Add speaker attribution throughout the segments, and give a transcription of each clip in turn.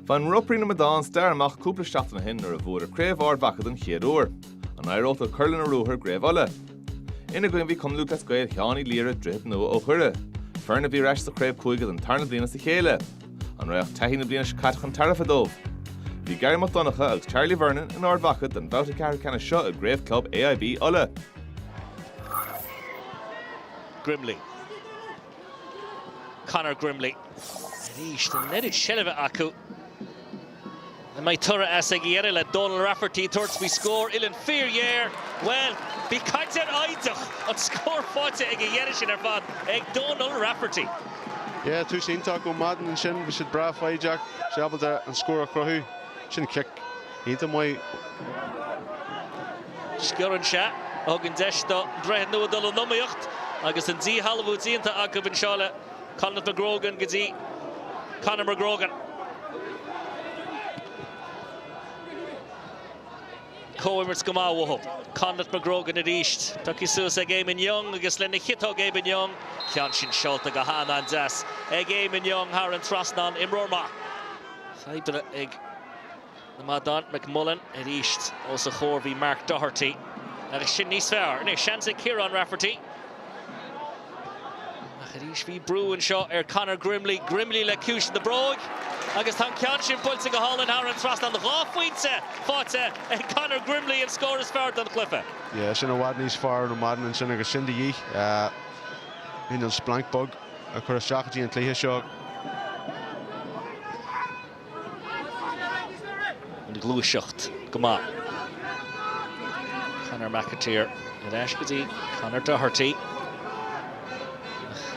Speaker 1: Bhain Ropairí na Madán stair amach cúpla seachtain ó shin nuair a bhuadar Craobh Ard Mhacha den chéad uair, an éireodh leo cur lena ruathar i gCraobh Uladh? Ina gcoinne bhí Cumann Lúthchleas Gael Sheáin Uí Laoire, Droichead Nua ó Dhoire, foireann a bhí ar ais sa chraobh cúige don tarna bliain as a chéile. An raibh taithí na bliana seo caite chun tairbhe dóibh? Bhí Gary Mac Donncha agus Charlie Vernon in Ard Mhacha don bhabhta ceathrú ceannais seo i gCraobh Club AIB Uladh. Grimley. Conor Grimley arís. An oiread seilbhe acu. An mbeidh toradh as ag a dheireadh le Donal Rafferty tabhairt faoi scór uilleann fíor ghéar? Bhuel, bhí caint ar fhoighid ach an scór faighte ag a dheireadh sin ar fad ag Donal Rafferty. Yeah, tús iontach ó Madden ansin. Bhí siad breá foighdeach. Bhí sé ábalta an scór a chruthú. Sin cic. Iontach maith. Sciorr anseo a thugann deis do Dhroichead Nua dul in iomaíocht agus an díshealbhú déanta acu anseo le Conleth McGrogan go dtí Conor McGrogan. Comhimirt go maith uathu. Conleth McGrogan arís. Pioctha suas ag Eamon Young agus lena chiotóg Eamon Young. Ceann sin seolta go han-an-deas ag Eamon Young thar an trasnán. Imreoir maith. Fadhbanna ag. na Madán, McMullan arís os a chomhair bhí Mark Doherty agus sin níos fearr. Anois seans ag Kieran Rafferty. Ach arís bhí brú anseo ar Conor Grimley, Grimley le ciumhais na bróige agus tá an ceann sin buailte go hálainn thar an trasnán. Dhá phointe faighte ag Conor Grimley, an scór is fearr don chluiche. Yeah, sin i bhfad níos fearr ó Madden ansin agus sin de dhíth chun an splanc beag a chur isteach go dtí an cluiche seo. an ghluaiseacht go maith. Conor McAteer ar ais go dtí Conor Doherty.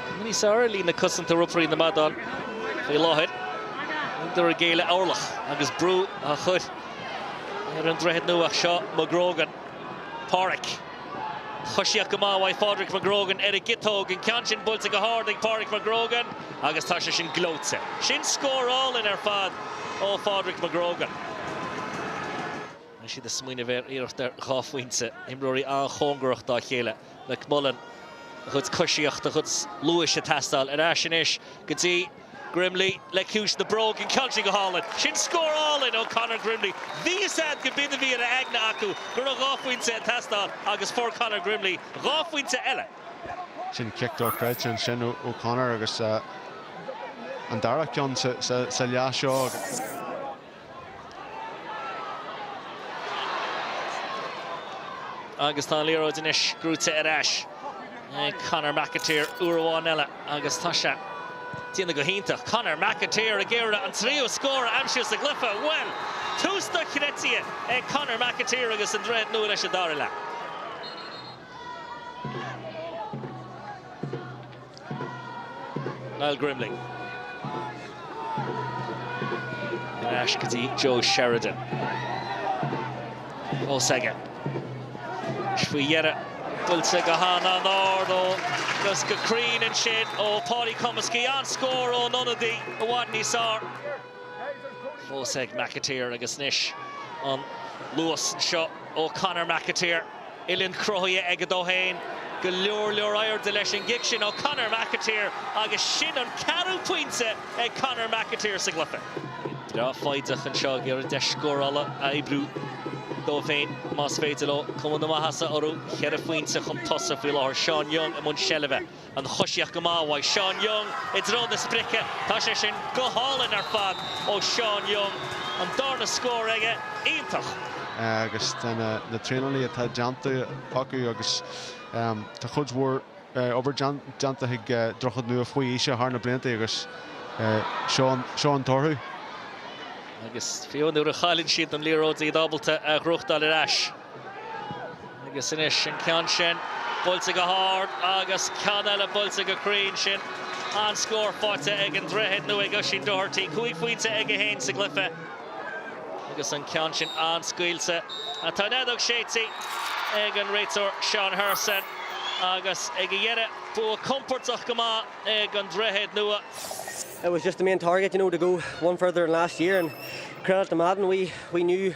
Speaker 1: Cuma níos fearr ar líne chosanta Ropairí na Madán faoi láthair. Níltear ag géilleadh orlach agus brú á chur ar an Droichead Nua anseo, McGrogan, Pádraic. Coisíocht go maith uaidh Phádraic McGrogan ar an gciotóg, an ceann sin buailte go hard ag Páraic McGrogan agus tá sé sin gleoite. Sin scór álainn ar fad ó Phádraic McGrogan. Beidh siad ag smaoineamh ar iarracht ar dhá phointe, imreoirí an-chóngarach dá chéile. McMullan, a chuid coisíocht, a chuid luais ag teastáil ar ais anois go dtí. Grimley le ciumhais na bróige, an ceann sin go hálainn. Sin scór álainn ó Conor Grimley. Bhí fhios a'd gurb in a bhí ina aigne acu go raibh dhá phointe ag teastáil agus fuair Conor Grimley dhá phointe eile. Sin cic dochreidte ansin ó Conor agus an dara ceann sa leath seo. Agus tá an liathróid anois brúite ar ais ag Conor McAteer uair amháin eile agus tá sé déanta go hiontach. Conor McAteer ag iarraidh an tríú scór a aimsiú sa gcluiche. Bhuel, tús dochreidte ag Conor McAteer agus an Droichead Nua leis an dara leath. Niall Grimling ar ais go dtí Joe Sheridan. Fós aige. Agus faoi dheireadh buailte go han-ard agus go cruinn ansin ó Paudie Comiskey. An-scór ón ionadaí i bhfad níos fearr. Fós ag McAteer agus anois an luas anseo ó Conor McAteer. Uillinn cruthaithe aige dó féin. Go leor leor airde leis an gcic sin ó Conor McAteer agus sin an ceathrú pointe ag Conor McAteer sa gcluiche. Breá foighdeach anseo ag iarraidh deis scórála a oibriú dóibh féin más féidir leo. Cuma na maitheasa orthu. Cheithre phointe chun tosaigh faoi láthair. Seán Young i mbun seilbhe. an choisíocht go maith uaidh Seán Young i dtreo na sprice. Tá sé sin go hálainn ar fad ó Sheán Young. An darna scór aige. Iontach. agus tá na traenálacha atá déanta acu agus tá cuid mhór obair déanta ag Droichead Nua faoi aoise thar na blianta agus seo an toradh. Agus fiú nuair a chailleann siad an liathróid iad ábalta a ghnóthachtáil ar ais. Agus anois an ceann sin buailte go hard agus ceann eile buailte go cruinn. Sin an scór faighte ag an Droichead Nua ag Oisín Doherty. Cúig phointe aige fhéin sa gcluiche agus an ceann sin an-scaoilte. Tá an fheadóg séidte ag an réiteoir Seán Hurson agus ag an deireadh bua compordach go maith ag an Droichead Nua.